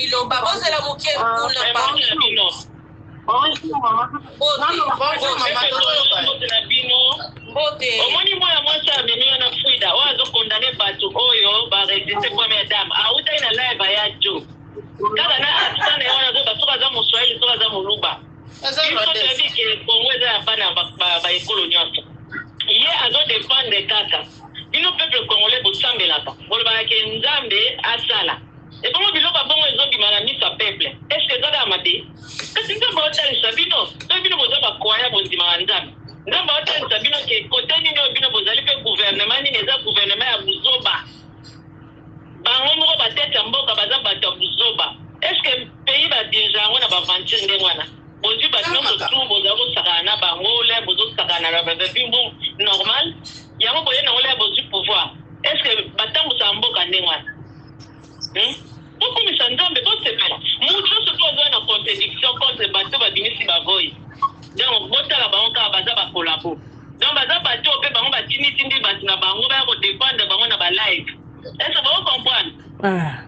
iloba bozela moke kuna omoni mwana mwasi amemi yo na frida oyo azokondane bato oyo baresiste première dame autaki na live ya jo kaka na accent na ye wana azoba soki aza moswahili soki aza moluba Congo eza ya bana ba ekolo nyonso. Ye azo dependre kaka bino peuple congolais bosambelaka bolobaka ke nzambe asala ebongo biloko abongo ezobima na miso ya peuple eske eza kaka mabe kasi nzambe aotalisa bino soki bino boza bakwaya bondimaka nzambe nzambe aotalisa bino ke kote nini oyo bino bozali mpe guvernema nini eza guvernema ya buzoba Bango moko ba tete ya mboka baza batu ya buzoba est ce que pays ba dirigea yango na ba aventure ndenge wana bozwi batu nyonso tu boza kosakana na bango le bozo sakana na bavevi mbu normal yango boye nango le bozwi pouvoir est ce que batambusaka mboka ndenge wana hmm? bokumisa nzambe bosepela motu nyonso tu azoya na contradiction contre bato babimisi bavoyi donc botala bango kaka baza bakolabo Donc baza batu oyo pe bango batindi tindi batu na bango baya ko defendre bango na ba live. Est-ce que bako comprendre? Ah.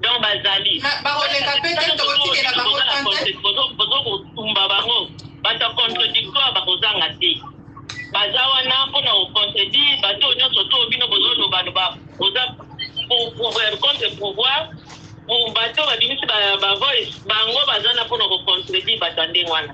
Donc bazali. Ma bakoleka pe te tokotikela bango tante. Bozo bozo kotumba bango. Bata contradictoire bakozanga te. Baza wana pona ko contredire batu oyo nyonso to bino bozo loba loba. Boza pour pouvoir contre pouvoir pour bato babimisi ba voice bango baza na pona ko contredire bato ya ndenge wana.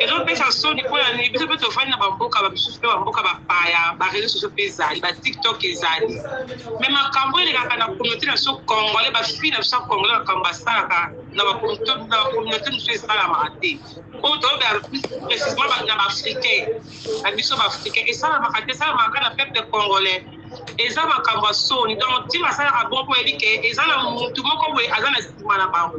ezopesa soni mpo ya nini biso mpe tofandi na bamboka bamisusu mpe bamboka bapaya bareseau sociaux mpe ezali batiktok ezali me makambo elekaka na communauté na biso congolais bafille na biso ya congolais makambo basalaka na bacommunauté mosusu esalamaka te oyo toyoka précisement na baafricain na biso baafricain esalamaka te esalamaka na peuple congolais eza makambo ya soni donc ntina asalaka bongo mpo oyebi ke eza na motu moko boye aza na nsima na bango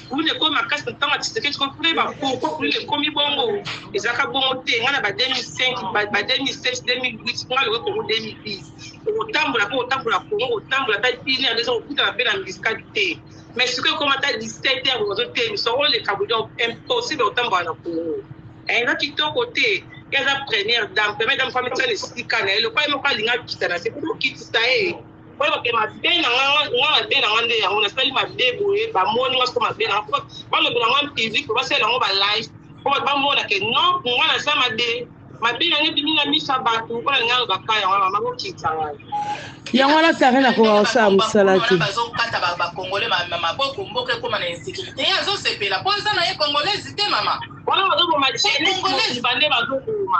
kuluna ekomi makasi na ntango ya tshisekedi ko kuna yeba pourkoi kuluna ekomi bongo ezalaka bongo te ngai na ba 2005 ba 2007 2008 ngai lokoki kongo 2010 okotambola mpe otambola kongo otambola ta une heure eza kokutana mpe na miskadi te mais sikoyo ekoma ta 17 heure ozo te miso oleka bodi impossible otambola na kongo eza kitoko te eza première dame première dame fami tia na esika na ye lokola ye moko alinga akita na se mpo okitisa ye oyo bape mabe na nga nga mabe na nga nde yango nasali mabe boye bamoni nga soko mabe na nga po balobela nga mpiziki po basalela yango balife po bato bamona ke non nga naza mabe mabe na nga ebimi na miso ya bato mpona nga alobaka yango mama kokitisa ngai yango wana tare nakoka kosala mosala te bazokata bakongole maboko mboka ekoma na insécurité ye azosepela mpo aza na ye kongolaise te mama wana bazoboma congolaise bande bazoboma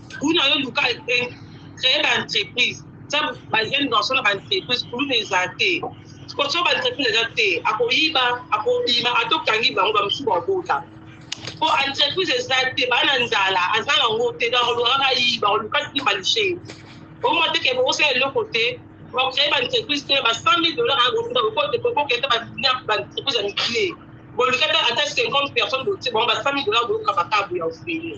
kuna yo luka créer ba entreprise tya ba jeune garçon na ba entreprise kuluna eza te koso ba entreprise eza te akoyiba akobima ata okangi bango bamosusu bakobota po entreprise eza te baa na nzala aza nango te donc olukaka ayiba oluka ti balishe omwa te ke bokosala eloko te bocree ba entreprise te ba 100 mille dollar okokete ba entreprise ya mikie boluki ata 50 personne botie bango ba 100 mille dollar boyoka makabu ya ofele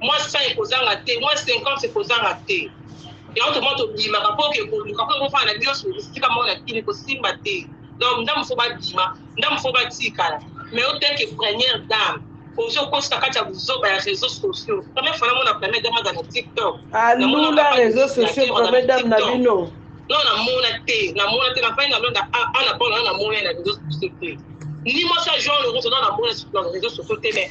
mwa 100 ekozanga te mwa 50 ekozanga te yango toma tobimaka mpo oke koluka mpo ekofana na bioso esika moko na kini kosimba te donc ndambo fo babima ndambo fo batikala mais oteke première dame ozo kosa kati ya buzoba ya réseaux sociaux première fois namona première dame aza na tiktok alula réseaux sociaux première dame na bino non namona te namona te nafai nalonda ana mpona na namona na réseaux sociaux te ni mwasi ya jean lorenzo na namona na réseaux sociaux te mais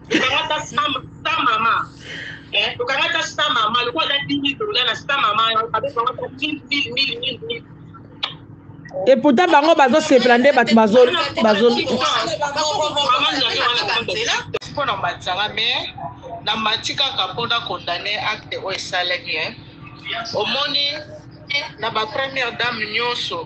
tokanga ta sa mama eh, tokanga ta sa mama lokola ta dimi tola na sa mama abekanga ta mil mil mil mil mil et pourtant bango bazosepela nde bato mpona matanga mais na mati kaka mpona condamne acte oyo esalaki omoni na bapremière dame nyonso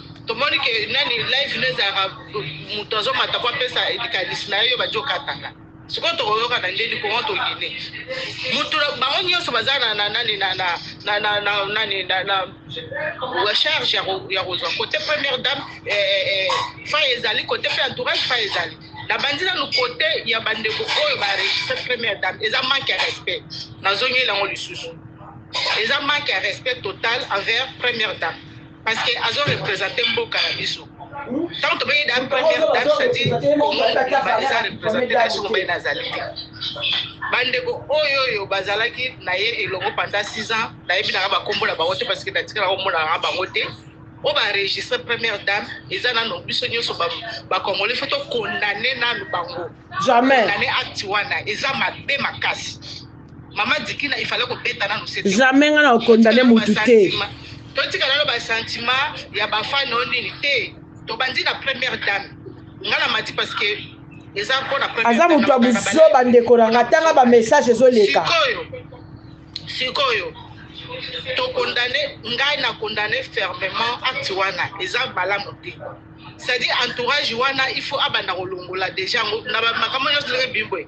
tomoni ke nani live no ezalaka moto azomata po apesa likanisi na ye yo badi okataka sikoyo tokoyoka na ndeni kongo tokende moto bango nyonso baza na nani nani na charge ya kozwa kote première dame eh, eh, eh, fa ezali kote mpe entourage fa ezali nabandi nanu kote ya bandeko oyo baregistre première dame eza manque ya respect nazongeli yango lisusu eza manque ya respect total envers première dame parce que azo represente mboka na biso ntango tobengi da première dame cetadire komobaye eza represente na biso mobaye nazali te bandeko oyo oyo bazalaki na ye elongo pendant 6 ans nayebi nanga bakombo na bango te parce que natikala komonaka bango te oyo baregistre première dame eza nano biso nyonso bakongole fo tokondane nano bango jamais acte wana eza mabe makasi mama dikina il fallait kobeta nanu sete jamais nga na okondane mutu te totika nano basentiment ya bafani oyo nini te tobandi na première dame nga na mati parce que eza mpona aza moto ya buzoba ndeko na nga tanga bamessage ezoleka sikoyo sikoyo tokondane ngai na kondane fermement acte wana eza malamu te c'est-à-dire entourage wana il faut abanda kolongola déjà yango na makambo nyonso ndenge bimboye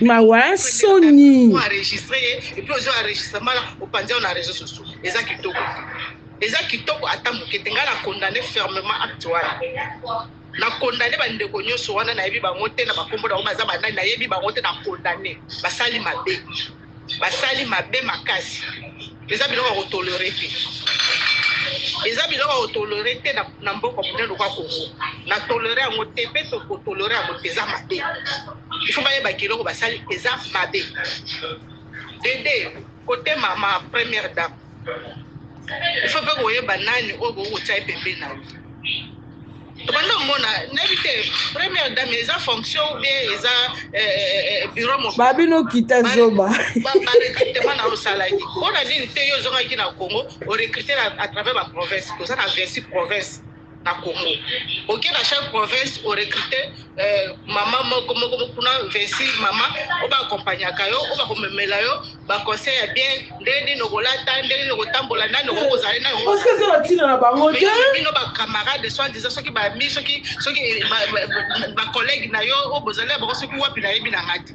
mawa soni eza kitoko ata moke te ngai na condamne fermement acte wana na condamne bandeko nyonso wana nayebi bango te na bakombo na bango baza banani nayebi bango te na condamne basali mabe basali mabe makasi eza biloko ya kotolere te eza biloko ya kotolere te na mboka monene lokwa kongo na tolere yango te mpe tokotolere yango te eza mabe ifo bayebaki eloko basali eza mabe dede kote mama première dame ifo mpe koyeba nani oyo bokoki kotya ye pembeni na yo tobanda omona nayebi te première dame eza fonction ou bien eza eh, eh, eh, bureau moko babino kita zoba barecrutement na osalaki mpo na nini te yo ozongaki na congo orecrute à travers baprovince toza na 26 province na Congo oke na chaque province o recruter euh, mama moko moko kuna 26 mama oyo baakompagnaka yo oyo bakomemela yo baconseil ya bien ndenge nini okolata ndenge nini okotambola nani okoki kozala nani parceke eza na ntina na bango te bino bacamarade soit disant soki bami soki soki bacollègue na yo oyo bozali na bango soki wapi nayebi na ngai te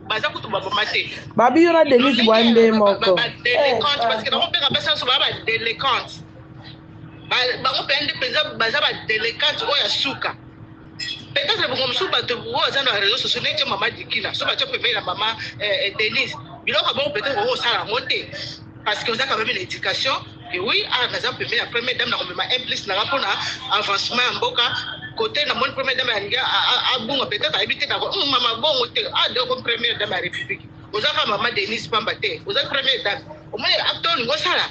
baza kutu baboma te babi yo na denise bwa nde moko badelecante parce que bango mpe kabasi nyonso baa badelecante bango mpenza nde mpenza baza badelecante oyo ya suka peut-être bongo mosusu bato oyo aza na réseau sociaux neti mama dikina so batya pembeni na mama eh, eh, denise biloko bango peut-être okosala yango te parce que oza quand même na education et oui ah naza pembeni ya première dame na komema un plus nanga mpona avancement ya mboka kote na moni première dame alingi abunga peut-être ayebi te nako hmm, mama bongo te ah doko première dame ya république oza kaka mama denise pamba te oza première dame omoni acte olingi osala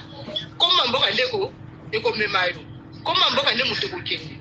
koma mboka ndeko ekomema yo koma mboka nde moto ekokende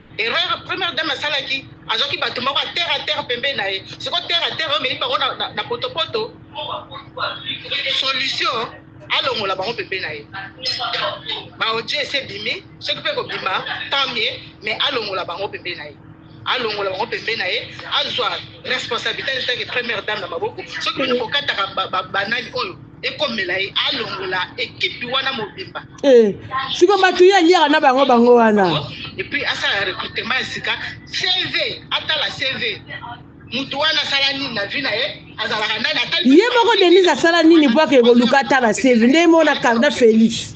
Erreur première dame asalaki azwaki bato moko ya terre à terre pembeni na ye siko terre à terre omeli bango na potopoto solution alongola bango pembeni na ye baotie esi ebimi soki mpe kobima tant mieux mais alongola bango pembeni na ye alongola bango pembeni na ye azwa responsabilité azotaki première dame na maboko soki kokataka banani oyo ekomela ye alongola ekipi wana mobimba Eh, siko bato ye aliaka na bango bango wana epuis asala recrutement ya sika cv atala cv moto wana asala nini na vi na ye azalaka nani ye moko denise asala nini po ake koluka atala cv nde mona carda félix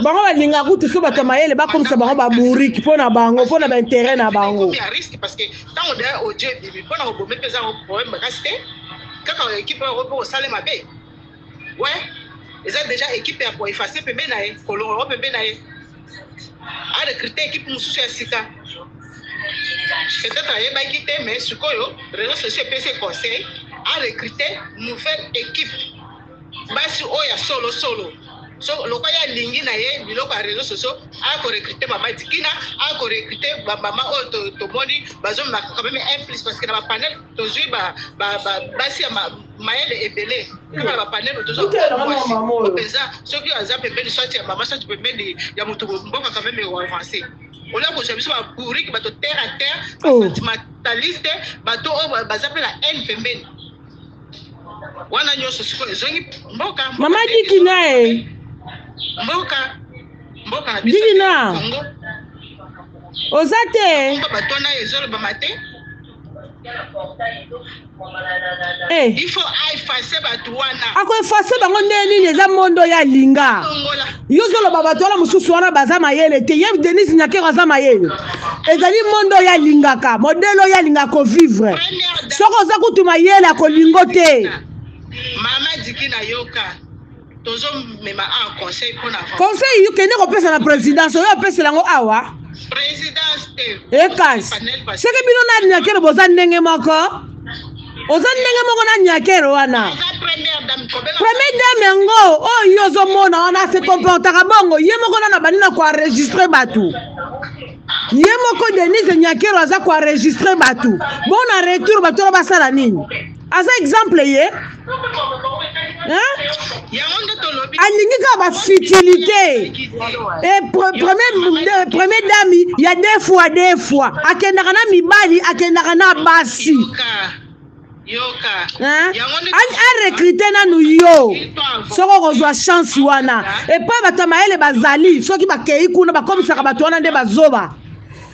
bango balinga kutu so bato ya mayele bakomisa bango baburiki mpo na bango mpo na baintere na bango kaka ekipe yango mpo kosala mabe we eza deja ekipe ya koefase pembe na ye kolongola ngo pembe na ye arekrute ekipe mosusu ya sika peut-être ayebaki te mais sikoyo réseau sociaux epesi conseil arekrute nouvelle équipe basi oyo ya solo solo so lokola ye alingi na ye biloko ya réseau sociaux akorekrute mama dikina akorekrute bamama oyo tomoni bazomemaka quand même un plus parce que na bapanel tozwi ba, ba, ba, basi ya ma, mayele ebele kaka na bapanelo tozompenza soki aza pembeni swati ya mama swati pembeni ya moto mboka quand meme oavance olia kozwa biso babourike bato terre à terre oh. basentimentaliste bato oyo oh, baza mpe na haine pembeni wana nyonso sikoyo ezongi mboka mama diki naye mboka mboka na biso kongo oza te bato wana ezolobama te Eh. akoefase bango ndenge nini eza mondo ya linga yo ozoloba bato wana mosusu wana baza mayele te ye denise nyakero aza mayele ezali mondo ya lingaka modele oyo alinga kovivre soki oza kutu mayele akolingo te mama diki nayoka conseil yokende kopesa na présidence oyo apesela yango awa ekasi seke bino na nyakero boza ndenge moko oza ndenge moko na nyakero wana premier dame yango oyo ozomona wana se comportaka bongo ye moko nana bandi na koenregistre bato ye moko denise nyakero aza koenregistre bato bona retour bato wana basala nini aza exemple ye alingi kaka bafutilité eh, premier dame ya de fois de fois akendaka na mibali akendaka na basi arekrite nanu yo soki okozwa chance wana epai bato ya mayele bazali soki bakei kuna bakomisaka bato wana nde bazoba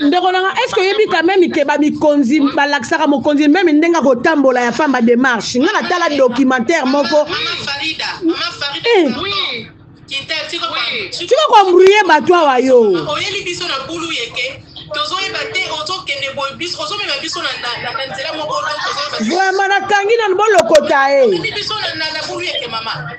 ndeko nanga estce oyebi quand meme ke bamikonzi balakisaka mokonzi meme ndenge akotambola ya pamba démarche nga natala documentaire moko eh. tika koembrouye bato awa yo tozoyeba te ozokende boye biso ozomema biso na nzela moko vraiment nakangi nanu bolokota e biso na bulu yeke mama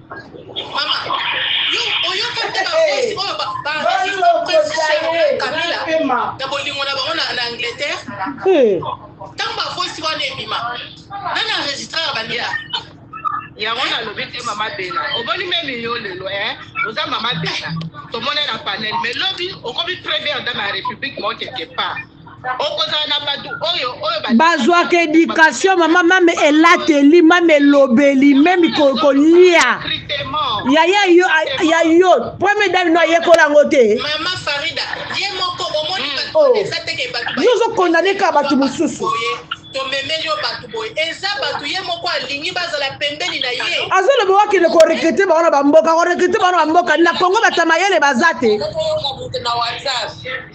ntango bafosi wana ebima nani enregistraka bandela yango nalobi te mama bela omoni meme yo lelo e eh? oza mama bela tomona na panel mais lobi okomi première dame ya république moko quelque part bazwaka education mama mame elateli mame elobeli meme kolia yaya yo ya yo premier dame no ayekola yango te yo ozokondane kaka bato mosusu tomemeli yo bato boye eza bato ye moko alingi bazala pembeni na ye azoloba wakende korekrite bango na bamboka korekrite bango na bamboka na kongo batamayele baza te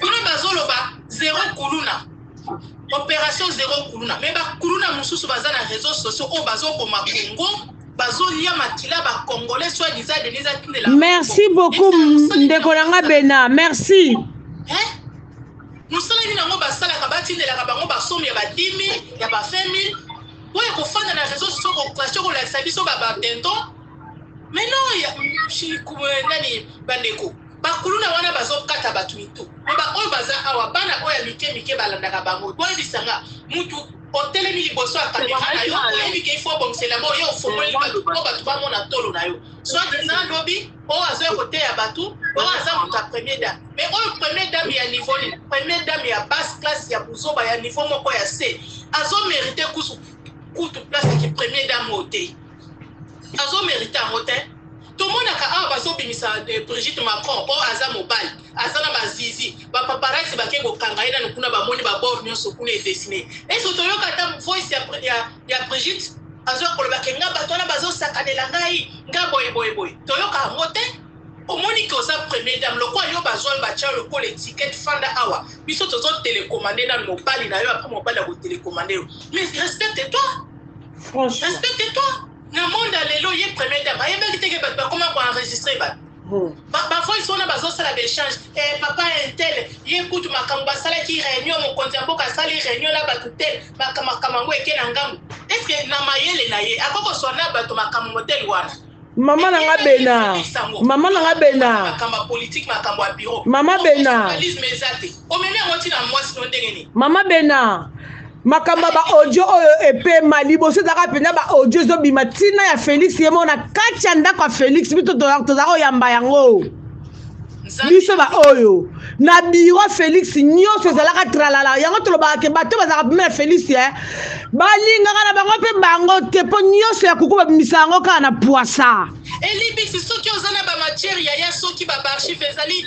Kuna bazoloba zero kuluna. Operation zero kuluna. Mais ba kuluna mususu baza na réseaux sociaux oyo bazoboma Congo. bazolia makila bacongolais soit disant denise atindela merci beaucoup ndeko na nga bena merci mosala nini yango basalaka batindelaka bango basomi ya ba 10 000 ya ba 20 000 mpo ya kofanda na réseau socio kokache kolakisa biso babatenton mais non nani bandeko Ba kuluna wana bazo kata batu mitu po ba oyo baza awa bana oyo ya mike mike balandaka bango boyebisa nga mutu otelemi liboso ya camera na yo oyebi ke ifo obongisela mo yo ofongoli batu po batu bamona tolo na yo soit disant lobi oyo azoya koteya batu oyo aza moto ya premier dame mais oyo premier dame ya niveau nini premier dame ya basse classe ya buzoba ya niveau moko ya se azo merite kusu kutu place ki premier dame oyo te azo merite yango te tomonaka awa bazobimisa eh, brigitte macron oyo aza mobali aza na bazizi bapaparasi bake kokanga ye nano kuna bamoni babor nyonso kuna edesine eso toyoka ata voice ya, ya, ya brigitte azoya kolobake nga bato wana bazosakanela ngai nga boyeboyeboye toyoka yango te omoni ke oza premier dame lokola yo bazwa batya lokola etikete fanda awa biso tozotelekomande nano mobali na yo apres mobali ya kotelekomande yo mais respecte toi Franchement. Respecte toi. Na monde ya lelo ye premier dame ayebaki teke bato bakoma ko enregistre bato hmm. bavoice wana bazosala baechange eh, papa intel ye kutu makambo basalaki réunion mokonzi ya mboka asali réunion na bato te makambo yango eke na ngambo estce na mayele na ye akoki koswa na bato makambo modele wana mama na nga bena mama na nga bena mama bena mama bena makambo ya baaudio oyo epema liboso ezalaka mpenza baaudio ezobima ntina ya félix ye moko na kati ya ndako ya félix bito tozalaka koyamba yango biso baoyo na biro félix nyonso ezalaka tralala yango tolobaka ke bato bazalaka pema ya félix e balingaka na bango mpe bango te mpo nyonso ya kuku babimisa yango kaka na pwasa elibisi soki oza na bamatiere yaya soki babarchive ezali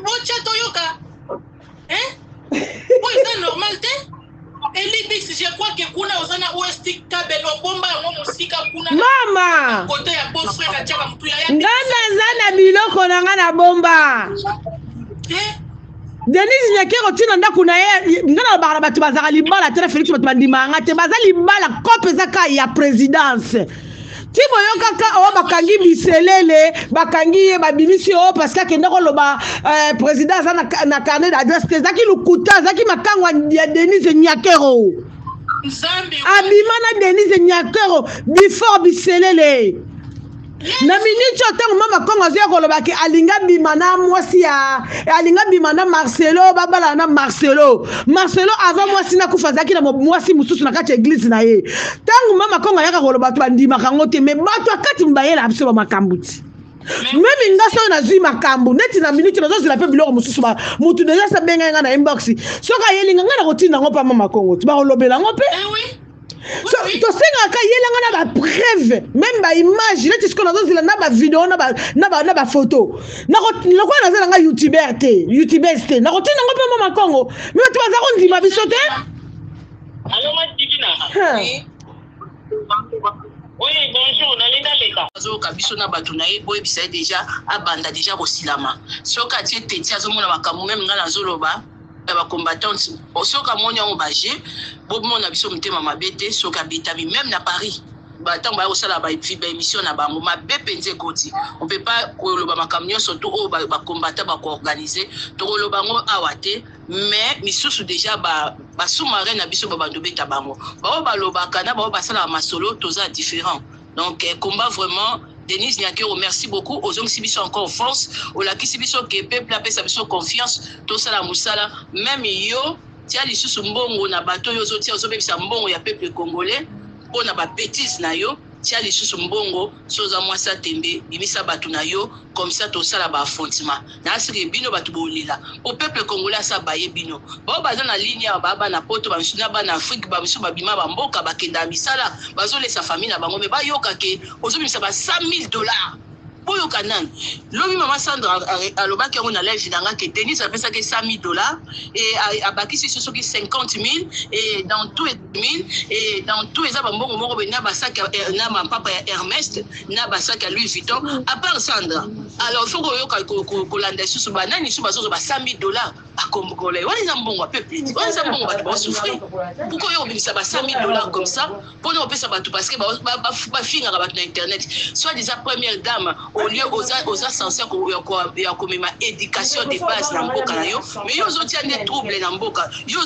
botya toyoka hein po eza normal te elibis je crois que kuna oza na ost kabel obomba yango mosika kuna mama kote ya beau frère atiaka motu ya nga naza na biloko na nga na bomba eh? denise nyakero ntina ndako na ye nga na babaka na bato bazalaka libala te na félix bato bandimaka nga te baza libala cope eza ka ya présidence ti boyoka ka oyo bakangi biselele bakangi ye babimisi oyo oh, parce que akenda koloba euh, président aza na carnet d'adresse te ezalaki lokuta azalaki makango ya denise nyakero abima na denise nyakero before biselele na miniti oyo ntango mama kongo azoya koloba ke alinga bima na mwasi ya alinga bima na marcelo babalana na marcelo marcelo avant mwasi nakufa azalaki na mwasi mosusu na kati ya eglize na ye ntango mama kongo ayaka kolo bato bandimaka yango te me bato akati mibayela biso bamakambo ti meme nga soki nazwi makambo neti na minute nazozela mpe biloko mosusu motu deja esi abengai ngai na inbox soki ayeli nga ngai nakotinda yango mpa mama kongo ti bakolobela yango mpe eh so tosengaka yelanga na bapreuve meme baimage neti sikoyo nazozela na bavideo na bafoto lokola naza nanga youtuber te youtubers te nakotinda yango mpe mama kongo me bato baza kondima biso te Allô, ma Divina. Oui. Oui, bonjour, nali naleka. azoyoka biso na bato na ye boyebisa ye deja abanda deja kosilama soki atie teti azomona makambo meme ngai nazoloba ya bacombattante soki amoni yango baje bomona biso motema mabe te soki abetami meme na paris ntango baya kosala baémission na bango mabe mpenza ekoti ope pa koloba makambo nyonso to oyo bacombattants bakoorganize tokoloba yango awa te mais misusu deja ba ba sous-marin na biso babando beta bango baoyo balobaka na baoyo basalaka masolo toza différent donc eh, combat vraiment denise nyakero merci beaucoup ozongisi biso encore force olakisi biso ke peuple apesa biso confiance tosala mosala meme yo tia lisusu mbongo na bato oyo ozotia ozobebisa mbongo ya peuple congolais mpo na babetise na yo tia lisusu mbongo Si oza mwasi ya tembe bimisa batu na yo comme ça tosala ba affrontement na seke bino batu bolela po peuple congolais asi abaye bino baoyo baza na ligne awa ba bana poto ba misusu na bana afrique ba misusu babima ba mboka bakendaka misala bazolesa famille na bango mais bayoka ke ozobimisa ba 100000 dollars boyoka nanu lobi mama sandra alobaki yango na live na nga ke denise apesaki 100000 dollars e abakisi so soki 50000 e dans tout mine et dans tout eza bambongo moko boye na basaki na mampapa ya hermest na basaki ya louis vuitton à part sandra alors faut koyoka kolanda lisusu banani lisusu bazozwa ba 100 000 dollars bakomgole wana eza mbongo ya peuple wana eza mbongo bato baosouffrir pourkoi yo obimisa ba 100 000 dollars comme ça mpona opesa bato parce que bafingaka bato na internet soit disant première dame au lieu oza oza sense ya komema education de base na mboka na yo mais yo ozotia nde trouble na mboka yo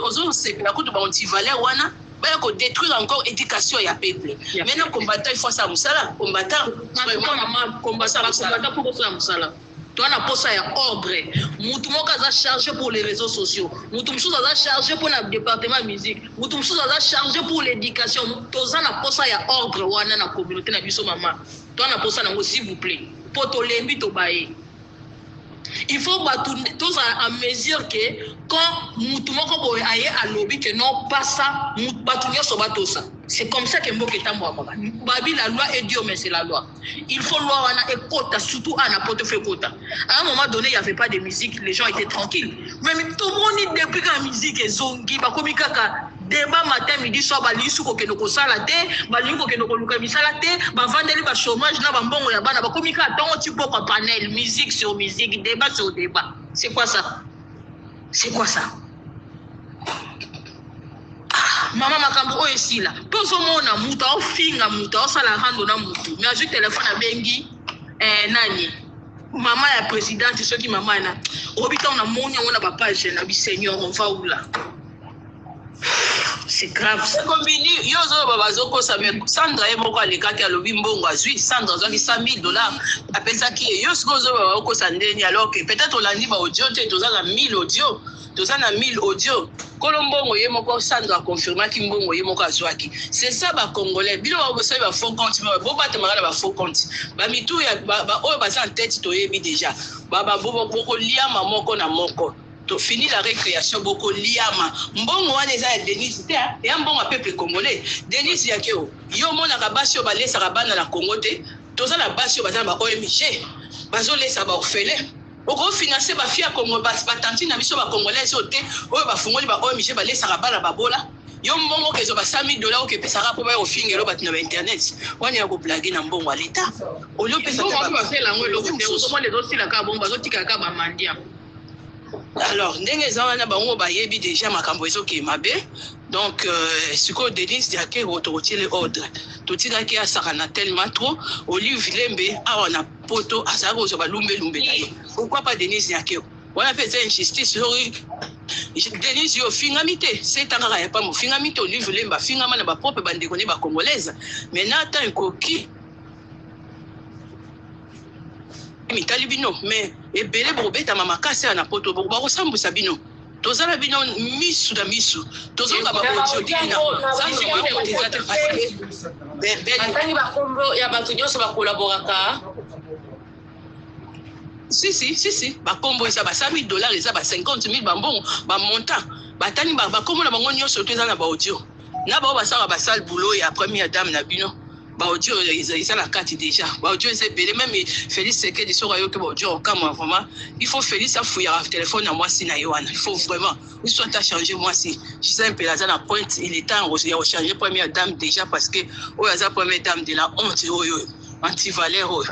ozosepela kutu baantivaleur wana baya kodétruire encore éducation ya peuple maintenant combattant il faut asala mosala combattant combattant mpo bosala mosala Toa na posa ya ordre. Mutu moko aza charge pour les reseaux sociaux. Mutu mususu aza charge pour na departement musique. Mutu mususu aza charge pour l'éducation. Toza na posa ya ordre wana na communauté na biso mama. Toa na posa nango s'il vous plaît. Po tolembi tobaye. Il faut batu toza en mesure que quand mutu moko boye aye alobi que non pas ça, batu nyoso batosa. C'est comme ça que mboka etambwaka. Babi la loi est dure mais c'est la loi. Il faut loi wana ekota surtout à na poto faut ekota. À un moment donné, il n'y avait pas de musique, les gens étaient tranquilles. Mais tout le monde depuis que la musique est zongi, bah comme kaka débat matin midi soir ba lisu ko kendo ko sala te, ba lisu ko kendo ko luka misala te, ba vandeli ba chômage na ba mbongo ya bana, ba comme kaka tongo ti boko panel, musique sur musique, débat sur débat. C'est quoi ça? C'est quoi ça? Ah, mama makambo oyo esila tozomona moto aofinga moto aosala rando na moto me azwi telefone abengi eh, nani mama ya presidente soki mama na oyebi ntango namoni yango na bapage na biseigneur on va oula c'est grave ça. Combini, yo zoba bazokosa mais Sandra ye moko alekaki alobi mbongo azwi Sandra azwaki 100 000 dollars apesaki ye yo sikoyo zoba bakokosa ndeni alors que peut-être olandi ba audio te toza na 1000 audio toza na 1000 audio kolo mbongo ye moko Sandra aconfirmaki mbongo ye moko azwaki c'est ça ba congolais bino bakosali ba faux compte mais bobatamaka na ba faux compte bamitu ya baoyo baza na tete toyebi déjà bababokoliama moko na moko To fini la recreation boko liama mbongo wana eza ya Denise te hein eya mbongo ya peuple congolais Denise yakeo yo omonaka basi oyo balesaka bana na Congo te toza na basi oyo baza na ba OMG bazo lesa ba orphelin oko finance ba fille ya Congo ba tantine na biso ba congolaise oyo te oyo ba fungoli ba OMG balesaka bana babola yo mbongo okezwa ba 100000 dollars okepesaka po baya kofingela batu na ba internet wana ya ko blaguer na mbongo ya l'etat olio pesa te ba mbongo wana basala yango eloko te ozomona ezosila kaka bongo bazotikaka kaka ba mendiant. alors ndenge eza wana bango bayebi deja makambo ezokee mabe donc euh, sikoyo denise diakero tokotiele ordre totikaki asakana tellement trop olive lembe awa na poto azalaki kozwa balumbelumbe na ye pourquoi pas denise diakero wana mpe eza injustice soki denise yo ofingami te seta kaka ya pamba ofingami te olive lembe afingama na bapropre bandeko ne bacongolaise mais na temps ekoki mitali bino mais ebele bokobetama makasi ya na poto bakosambwisa bino toza na bino misu na misu tozonga bakotiodikina atangi bakombo ya bato nyonso bakolaboraka sisi sisi bakombo eza ba 100 dollars eza ba 50 000 bambongo bamontant batani bakombo na bango nyonso to eza na baaudio na bao basala basale boulot ya première dame na bino baodio eza na kati deja baodio eza ebele meme félix sekedi soki ayoki baodio okamwa vraiment il faut félix afuyaka telefone ya mwasi na ye wana il faut vraiment biso ata change mwasi gisele mpela aza na pointe il est temps ya kochange première dame deja parce que oyo aza première dame de la honte oyo antivaleur oyo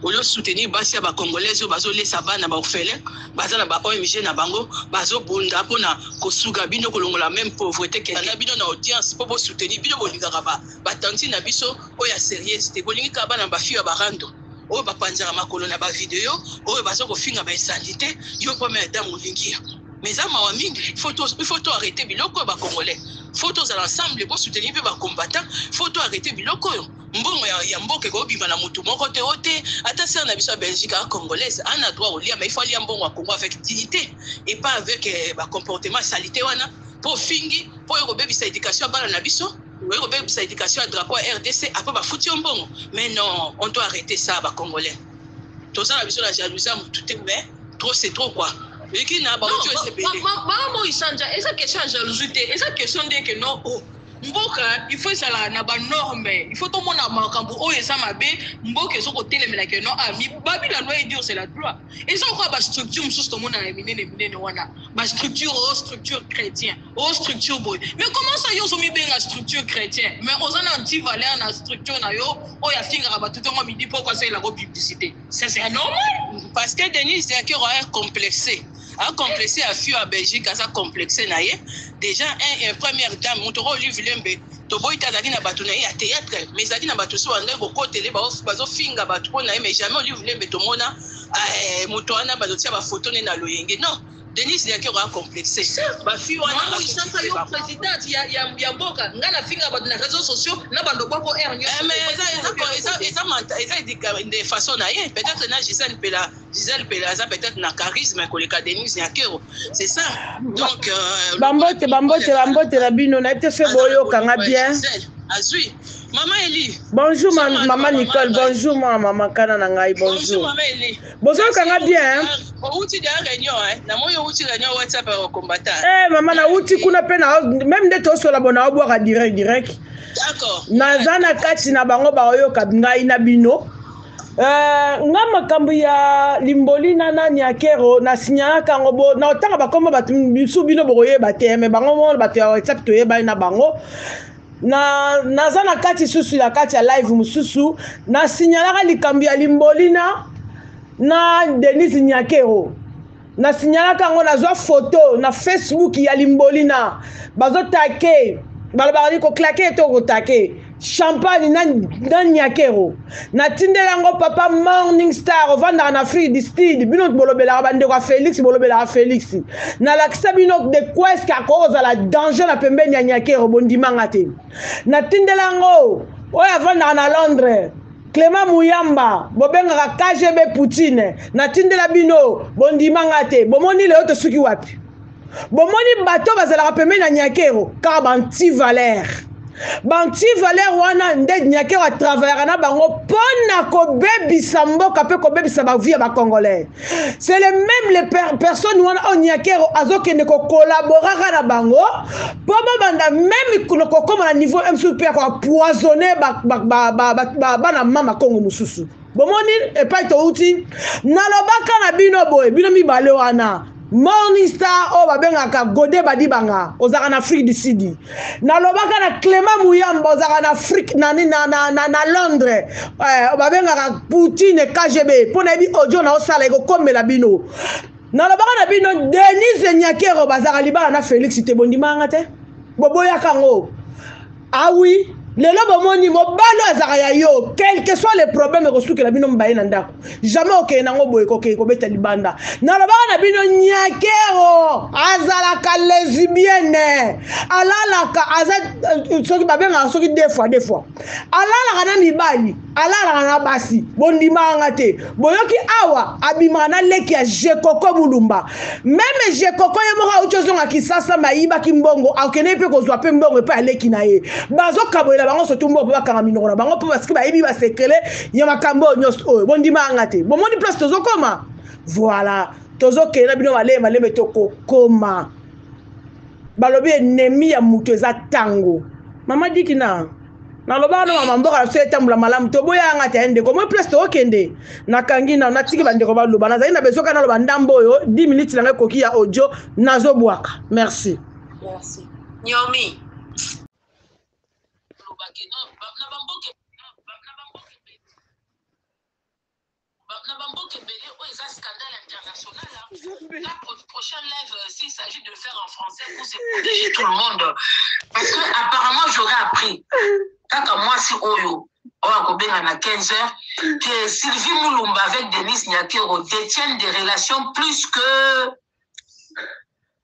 Ozo soutenir basi ya ba congolaise oyo bazo lesa bana ba orphelin baza na ba ONG na bango bazo bunda pona ko suga bino ko longola meme pauvrete kende na bino na audience po bo soutenir bino bo lingaka ba ba tantine na biso oyo ya serieuse te bo lingi kaka bana ba fille ya ba rando oyo ba panzaka makolo na ba video oyo bazo ko finga ba insandite yo po mère dame olingi mais eza mawa mingi il faut to il faut to arrêter biloko ya ba congolais faut tozala ensemble bo soutenir pe ba combattants faut to arrêter biloko oyo mbongo ya, ya mboka ekobima na motu moko te o te ata sere na biso ya belgique a congolaise ana droit kolia ma ifo alia mbongo ya congo avec dignité et pas avec eh, bacomportement salite wana mpo ofingi mpo oyo kobebisa éducation ya bana na biso oyo kobebisa éducation ya drapeau ya rdc apres bafuti yo mbongo mais non on doit arrêter ça bacongolais toza na biso na jalousie ya motu te mais trop c'est trop quoi eleki na baojo esebele maman moisanja eza question ya jalousie te eza question ndeke no o oh. mboka il faut ezala na ba norme il faut tomona makambo oyo eza mabe mboka ezo kotelemela ke non ah babi la loi edio c'est la loi eza okoya ba structure mosusu tomona na minene minene wana ba structure o oh, structure chrétien o oh, structure boye mais comment ça yo ozomibenga structure chrétien mais oza na anti valeur na structure na yo oyo afingaka bato ntongo midi mpo okosalela ko publicité ça c'est normal parce que denise diakero a complexé a complexe ya fio ya belgique aza complexe na ye déjà un, un première dame moto oyo olive lembe toboyi te azalaki na bato na ye ya théâtre mais ezalaki na bato so bandaki kokotele bazofinga bato mpo na ye mais jamais olive lembe tomona eh, moto wana bazotia bafoto ne na loyenge non denise liakero acomplexe bafi wanaisaka yo présidente ya mboka nga nafinga bato na réseau sociaux na bando boko r eza façon na ye peut-être na gisane mpela Gisèle Pele aza peut-être na charisme koleka Denise Nyakero c'est ça donc euh, bambote bambote bambote na bino nayebi te soki boyokanga bien azwi mama eli bonjour ma, mama, mama nicole bonjour mwa mama kana na ngai bonjour bozoyokanga bien outi da réunion namoni outi réunion whatsapp ya combattant eh mama nauti kuna mpe na meme nde tosola bo naobwaka direct direct naza na kati na bango baoyoka ngai na bino Euh, nga makambo ya limboli na nani ya kero na signalaka yango bo na otanga bakombo bato bisu bino bokoyeba te me bango mo bato ya whatsapp toyebani na bango na naza na kati susu ya kati ya live mosusu na signalaka likambo ya limbolina na denise nyakero na signalaka yango nazwa foto na facebook ya limbolina bazotake balobaka ni koklake to kotake champagne na, na nyakero natindeli yango papa morning star ovandaka na afrique du sud bino bolobelaka bandeko ya félix bolobelaka félix nalakisa bino de queske akoki kozala danger na pembeni ya nyakero bondimanga te natindeli yango oyo avandaka na londres Clement Muyamba, bobengaka KGB Poutine, natindela bino, bondima nga te, bomoni lelo tosuki wapi? Bomoni bato bazalaka pembeni na Nyakero, kaka ba anti-valeur. Ba anti-valeur wana nde Nyakero atravaillaka na bango mpo na kobebisa mboka mpe kobebisa ba vie ya ba Congolais. c'est le même le per personne wana oyo nyakero azokende kocollaboraka na bango mpo babanda meme kokoma na niveau msu mpe ya koapoisonne bana mama kongo mosusu bomoni epai touti nalobaka na bino boye bino mibale wana morning star oyo babengaka gode badibanga ozalaka na afrique du sudi nalobaka na clement muyamba ozalaka na afrique na, na, na, na, na londres eh, babengaka poutine kgb mpo nayebi audio na osala ekokomela bino nalobaka na bino denise nyakero bazalaka libala na félix te bondimaka nga te boboyaka yango awi ah lelo bomoni mobali azalaka ya yo quelque soit le problème ekosukela bino mbaye na ndako jamais okende nango boye kokende kobeta libanda nalobaka na bino nyakero azalaka lesibiene alalaka aza euh, soki babengaka soki de fois de fois alalaka na mibali alalaka na basi bondimaka nga te boyoki awa abimaka na leki ya jekoko bulumba meme jekoko ye moko auti ozonga kisasa mayibaki mbongo akendeki mpe kozwa mpe mbongo epai ya leki na ye bazokabolela bango sotu mbongo mpo bakanga minoko na bango mpo basiki bayebi basekele ya makambo oyo nyonso oyo bondimaka nga te bomoni place tozokoma voilà tozokende na bino malembe malembe tokokoma balobi enemi ya moto eza ntango mama diki na nalobaka na mama mboka na biso etambola malamu toboyaka nga te ya ndeko moi place tookende nakangi na natiki bandeko baloba nazali na besoka naloba ndambo oyo 10 minutes na ngai ekoki ya audio nazobwaka merci merci nyomi na bamboka ebele oyo eza scandale international la prochaine live euh, s'il s'agit de faire en français pour se protéger tout le monde parce que apparemment j'aurais appris kaka mwasi oyo oyo akobenga na 15 heures que sylvie mulumba avec denise nyakero détiennent des relations plus que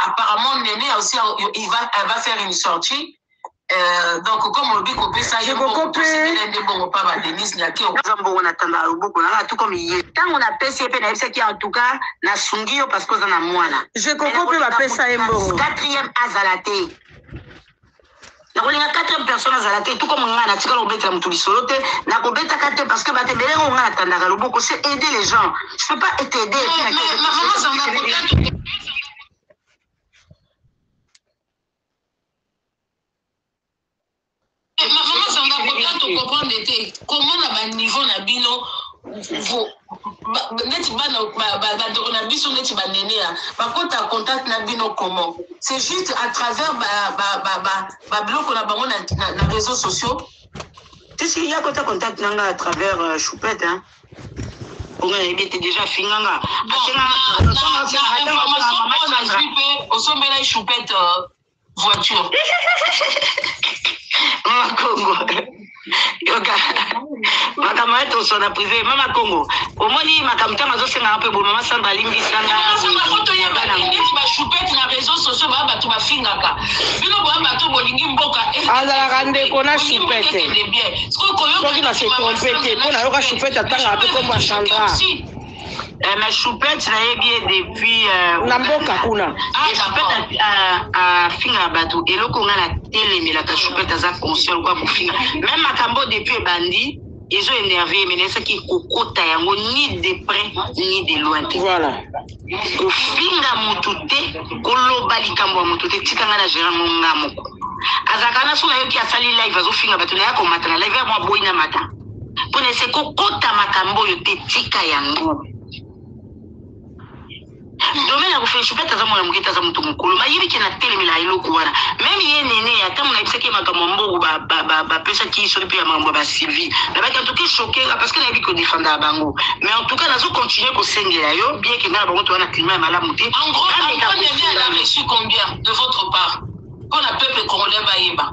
apparemment nene aussi il va, elle va faire une sortie Euh, donc comme olobi kopesa ye kokopesela nde bongo mpa ba denise nyake oza mbongo na tanda loboko nanga tu comme ye ntango napesi ye mpe nayebisaki en tout cas nasungi yo parce que oza na mwana je koko mpe bapesa ye mbongo quatrième azala te nakolinga quatrième personne azala te tout comme ngai natikala kobetela moto lisolo te nakobetaka te parce que bato ebele yango ngai natandaka loboko c'est aider les gens je peux pas être aidé comprendre te comment na baniveau na bino neti bana bandeko na biso neti baneneya bakota contact na bino comment c'est juste à travers babiloko na bango na réseaux sociaux tisi ya kota contact na nga à travers euh, choupette hein oyo nayebi ete déjà afinga nga asenga osombela choupette euh, voiture mama kongo yoka makambo ya toso na prive mama kongo omoni makambo ntango azosengaka mpe boye mama samba alimbisanga azalaka ndeko na shupete soki na se trompe te mpo nayoka shupete atangaka mpe kombo ya sandra Eh, mais choupette nayebi ye depuis euh, na mboka kuna ah, choupette afingaka bato eloko ngai natelemelaka choupette aza conscient lokola kofinga meme makambo depuis ebandi ezo énerve ye menayesaki kokota yango ni de près ni de loin te voilà kofinga motu te koloba likambo ya motu te tika ngai na gérant mo nga moko azalaka na so nayoki asali live azofinga bato naye akomata na live ya mwa boyi na mata Pona ese kokota makambo oyo te tika yango. Domaine ya kofelisho pete aza mwana moke te aza moto mokolo mayebi ke na telemela eloko wana meme ye nene ya ntango nayebisaki ye makambo ya mbongo bapesaki ba, ba, ba soli mpe ya makambo ya basylvie nabaki antuka eshokenga parce que nayebi kodefendaka bango mais antuka nazo continue kosengela yo bien ke ngai na bango toza na klima ya malamu te en gros, en gros, combien de votre part mpo na peuple congolais bayeba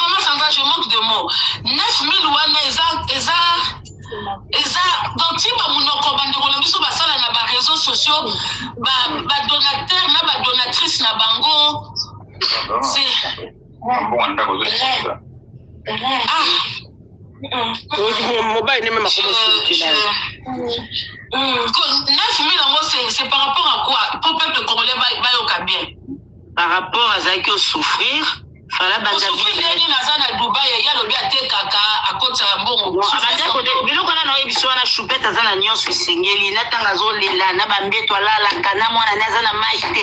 mama sanga je manque de mot 9000 wana eza eza eza donc timba monoko bandeko na biso basala na bareseau sociaux badonateur na badonatrice na bango mbongo ndako ezosisa mobali nde meme akomosilukila nafimi yango c'est par rapport à quoi po peuple congolais bayoka bien par rapport azalaki osouffrir fala bandandeni naza na dubai ye alobi atekaka akotisa mbongo biloko wana na oyebisi wana choupete aza na nyonso esengeli natanga azolela na bambeto alalaka na mwana ne aza na mai te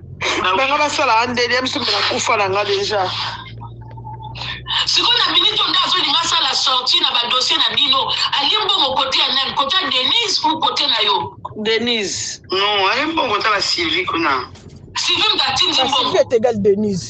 nanga basala andeli ya biso mpe nakufa na nga deja sikoyo na minute oyo nde azolinga asala sorti na badossier na bino alie mbongo kote ya nani kote ya denise ou kote na yo denise non alie mbongo tala sylvie kuna sylvie mtatindi mbongo etegal denise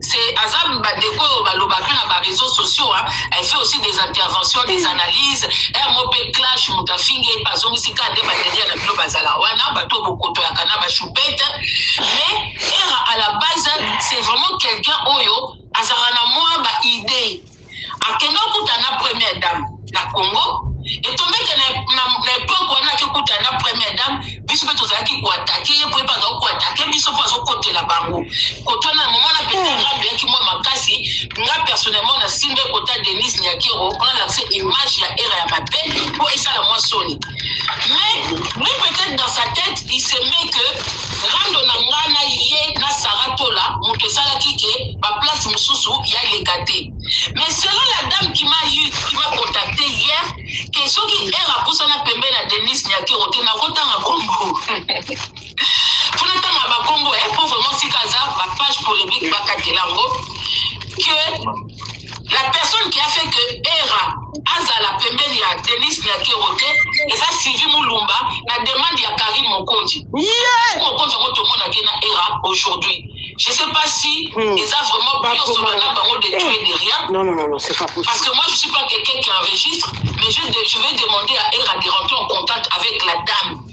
c'est aza bandeko oyo balobaka na ba réseaux sociaux hein. elle fait aussi des interventions des analyses un mot pe clash moto afingi ye bazongisi ka nde badelia na bino bazala wana bato bokotoyaka na bashupete mais era à la base c'est vraiment quelqu'un oyo azalaka na mwa baidée akenda okuta na première dame na congo etombeke na epoke wana ake okuta na première dame biso mpe tozalaki koatake ye koyeba azali koatake biso mpo azokotela bango kotwana moma na pete nga beyaki mwa makasi nga personnellement nasimbe kota denise nyakero mpona lakse image ya era ya mabe mpo esala mwa soni mais lui peut-être dans sa tête il se met que rando na nga na ye na sara tola moto esalaki ke baplace mosusu ya leka te mais selon la dame qui m'a eu qui m'a contacté hier ke soki ere apusana pembe na denise nyakero te nakotanga kombo mpona ntanga bakombo e eh, po vraiment sika aza bapage polemique bakatela yango que la personne qui a fait que era azala pembeni ya denis nyakero te eza sylvie mulumba na demande ya karine mokonzi yeah. mokonzi yango tomonaki na era aujourd'hui je sais pas si hmm. eza vraiment bioso bana bango de tuer de rien non, non, non, non, c'est pas possible. parce que moi je suis pas quelqu'un qui enregistre mais je, je vais demander à era de rentrer en contact avec la dame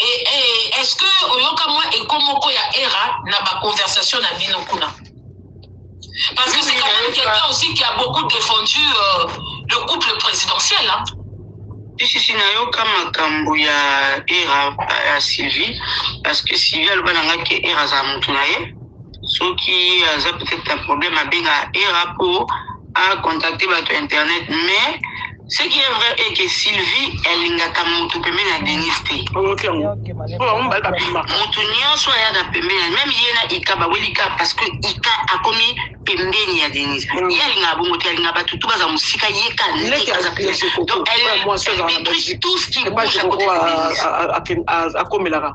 et, et est-ce que oyoka mwa eko moko ya era na baconversation na bino kuna parce que c'est quand même quelqu'un aussi qui a beaucoup défendu euh, le couple présidentiel hein? sisi nayoka makambo ya era ya sylvie parce que sylvie aloba na ngai ke era azala motu na ye soki aza peut-être na problème abenga era po a contacter bato ya internet mais ce qui est vrai est que sylvie alingaka moto pembeni ya denis te oyoki yango Yoke bale- mpo bango mibale babimaka moto nyonso ayaka pembeni ya- meme ye na ika baweli ka parce que ika akomi pembeni ya denis Mm. ye alingaka bongo te alingaka bato tu baza mosika ye ka Leki ndeke aza azali pembeni. Joko, Donc, elle- oyo mwasi azala na elle détruit Belgique. tout ce qui epai bouge à côté de Denis. akomelaka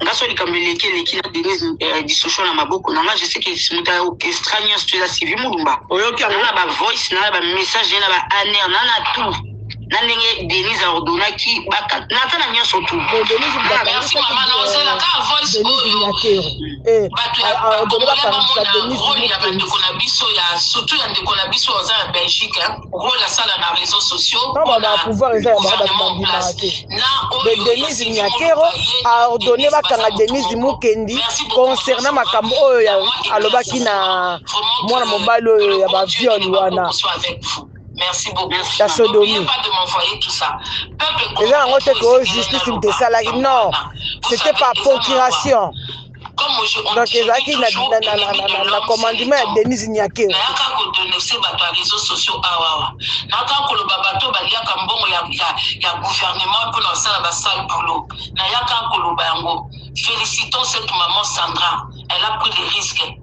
nga so likambo eleki eleki na denise eh, discussion na maboko na nga je sais que moto ya orchestra nyonso to eza sylvie mulumba oyoki yango na bavoice na bamessage na baaner na na tout na ndenge denise aordonaki naza na nyonso tubato ya bandeko na biso ya surtout ya ndeko na biso aza na belgique role asala na réseau sociaux pamba na pouvoir eza ya bango bato bandimaka te de denise nyakero aordonne bakanga denise mukendi concernant makambo oyo ya alobaki na mwana mobali oyo ya baviole wana Merci beaucoup. La sodomie. Pas de m'envoyer tout ça. Peuple. Les gens ont été que justice me salariés. Non, c'était par procuration. donc ezalaki na commandement ya denise nyakeo nayaka kodonese bato ya réseau sociaux awawa naka koloba bato baliaka mbongo ya, ya, ya gouvernement mpo na basala basale boulot nayaka koloba yango félicitons cette maman sandra elle a pris le risque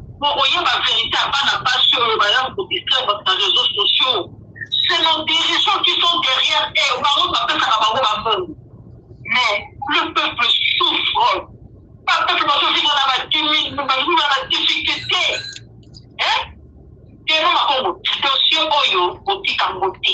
Bokoyeba verite ya bana basi oyo bayaka ko distraire batu na reseaux sociaux c'est nos dirigeants qui sont derrière eux bango nde bapesaka bango ba mbongo mais le peuple souffre ba peuple bazovivre na ba dimi na ba na ba difficulté hein Diego Makongo dossier oyo botika ngo te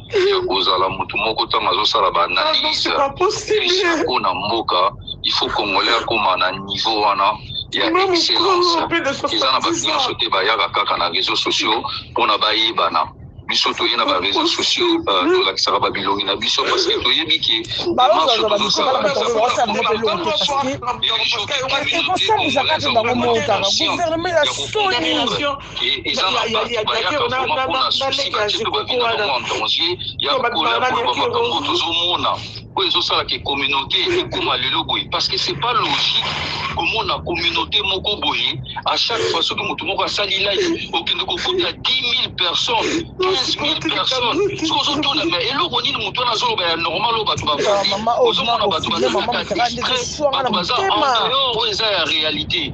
Eya kozala mutu moko tango azosala ba analyse po na mboka il faut congolais akoma na niveau wana ya excellence eza na bato nyonso te bayaka kaka na réseau sociaux mpona bayebana biso toye na bareseau sociaux euh, mm. tolakisaka babilongi na biso parce que toyebi ke marche tozosala oyo ezosala ke communauté ekoma lelo boye parce que c'est pas logique komona communauté moko boye à chaque fois soki moto moko asali live okende kokuta 10 000 personnes 15 000 personnes soki ozotuna ma eloko nini moto wana azoloba ya normal oyo bato bafandi ozomona bato bazalaka distrait bato baza en dehors oyo eza ya réalité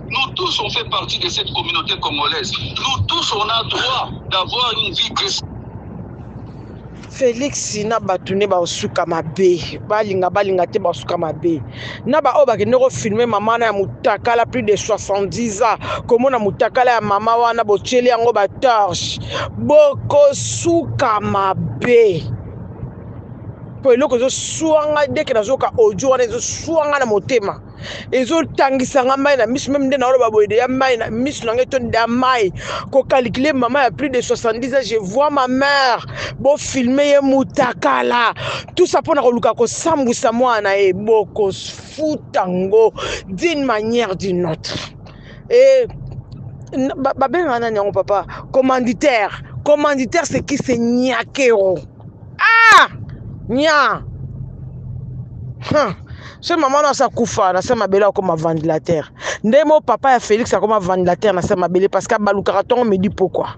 Nous tous on fait partie de cette communauté congolaise. Nous tous on a droit d'avoir une vie décente. Felix na bato nde basuka mabe balinga balinga te basuka mabe na baoyo bakende kofilme mama na ya motakala plus de 70 ans komona motakala ya mama wana botyeli yango batorche bokosuka mabe mpo eloko ezoswanga deke nazoyoka audio wana ezoswanga na motema ezo tangisa nga mai na miso meme nde naoloba boye deya mai na miso na ngai to da mai kokalikile mama ya plus de 70 ans je vois ma mère bofilme ye mutakala tusa mpo na koluka kosambwisa mwana na ye bokofuta ngo d'une manière d'une autre eh, babengaka nani yango papa commanditaire commanditaire c'est qui c'est nyakero ah nya huh. se mama no asa kufa na se mabele akoma vandelatere nde mo papa ya félix akoma vandelatere na se mabele parce que abalukaka ntongo midi pokwa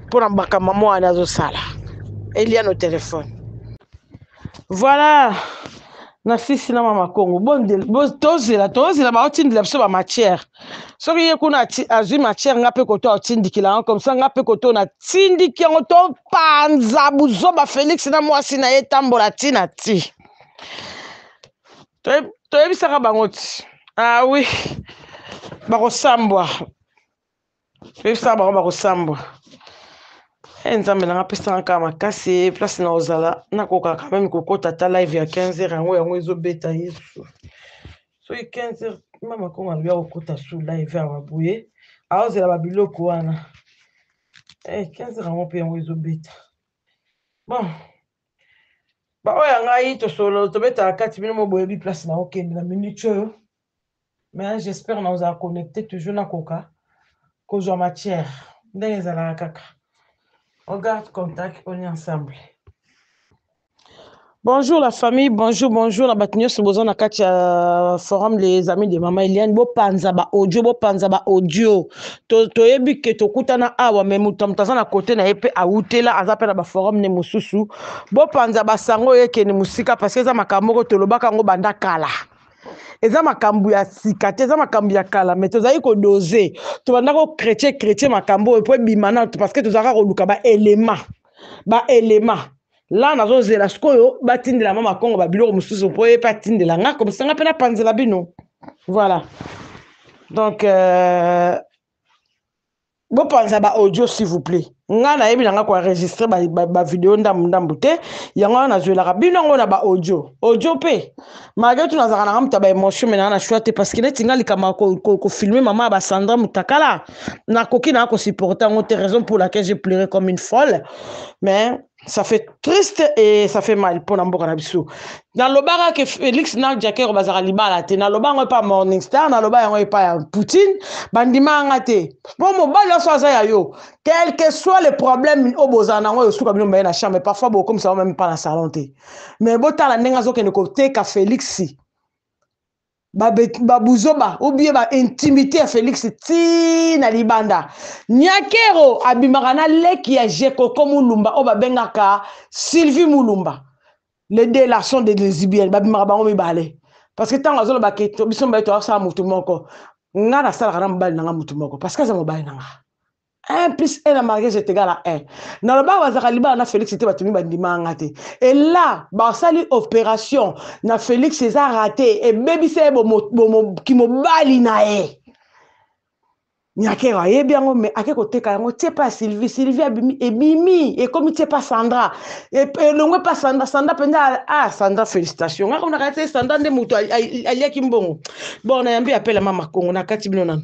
mpo na makambo mwana azosala eliano telefone Voilà na sisi na mama Kongo tozela tozela baotindela biso ba matière soki ye kuna azwi matière nga mpe koto aotindikila yango comme ça nga mpe koto natindiki yango topanza buzoba Felix na mwasi na ye etambola ti na ti toyebisaka bango ti ah oui bakosambwa bebisa bango bakosambwa e eh, nzambe nanga pesanga kaka makasi place na ozala nakoka quand meme kokota ata live ya 15 heures yango yango ezobeta yesu soki 15 heures mama kongo alobi akokota su live awa boye aozela babiloko wana e eh, 15 heures yango mpe yango ezobeta bon baoyo ya ngai tosolo tobetaka kati bino moboyebi place na okende na minute oyo mais j'espère na ozala connecté toujours na koka kozwa matière ndenge ezalaka kaka on garde contact on est ensemble Bonjour la famille, bonjour, bonjour. Na bato nyonso boza na kati ya forum les amis de mama Eliane. Bo panza ba audio, bo panza ba audio. To toyebi ke tokutana awa mais moto moto aza na kote na ye mpe awutela aza mpe na ba forum ne mosusu. Bo panza ba sango ye kende mosika parce que eza makambo moko tolobaka yango banda kala. eza makambo ya sika te eza makambo ya kala me tozali kodose tobanda ko kretye kretye makambo oyo mpo ebima na parce que tozalaka koluka baelema baelema la nazozela sikoyo batindela ma makongo babiloko mosusu mpo ye mpe atindela nga komisanga mpe napanzela bino voilà donc euh, bopanza ba audio s'il vous plaît ngai nayebi na ngai koenregistre bavideo ndambu ndambu te yango wana nazwelaka bino yango na baaudio audio mpe malgre tu nazalaka na ngai moto ya baémotion me naa na shwa te parce que neti ngai likambo ya kofilme mama ya basandra motakala nakoki naa kosupporte yango te raison pour laquelle je pleure comme une folle mais ça fait triste et ça fait mal pour mboka na biso nalobaka ke félix na jakero bazalaka libala te naloba yango epa morning star naloba yango epa ya poutine bandimaka nga te mpo mobali nyonso aza ya yo quelque soit le problème oyo bozala na yango esuka bino mbaye na chambre parfois bokomisa yango meme mpa na salon te mais botala ndenge azokende koteka félix babuzoba ba ou bien baintimité ya félix ti na libanda nyakero abimaka na leki ya jekoko mulumba oyo babengaka sylvie mulumba les deux là sont des lesbiennes babimaka bango mibale parce que ntango azoloba ke biso mibale toyasala motu moko nga nasalaka na mobali na nga motu moko parce que aza mobali na nga 1 plus 1 na mariage est égal à 1 nalobaka bazalaka libala na felix te bato miba ndimaka nga te ela basali opération na felix eza rate ebebisa ye kimobali na ye nyakero ayebi yango me ake koteka yango tie pa sylvie sylvie abimi ebimi ekomi tie pa sandra e, elongwe pa sandra sandra mpenza ah sandra félicitation nga konaka te sandra nde moto aliaki mbongo bon nayambi apela mama kongo nakati bino nano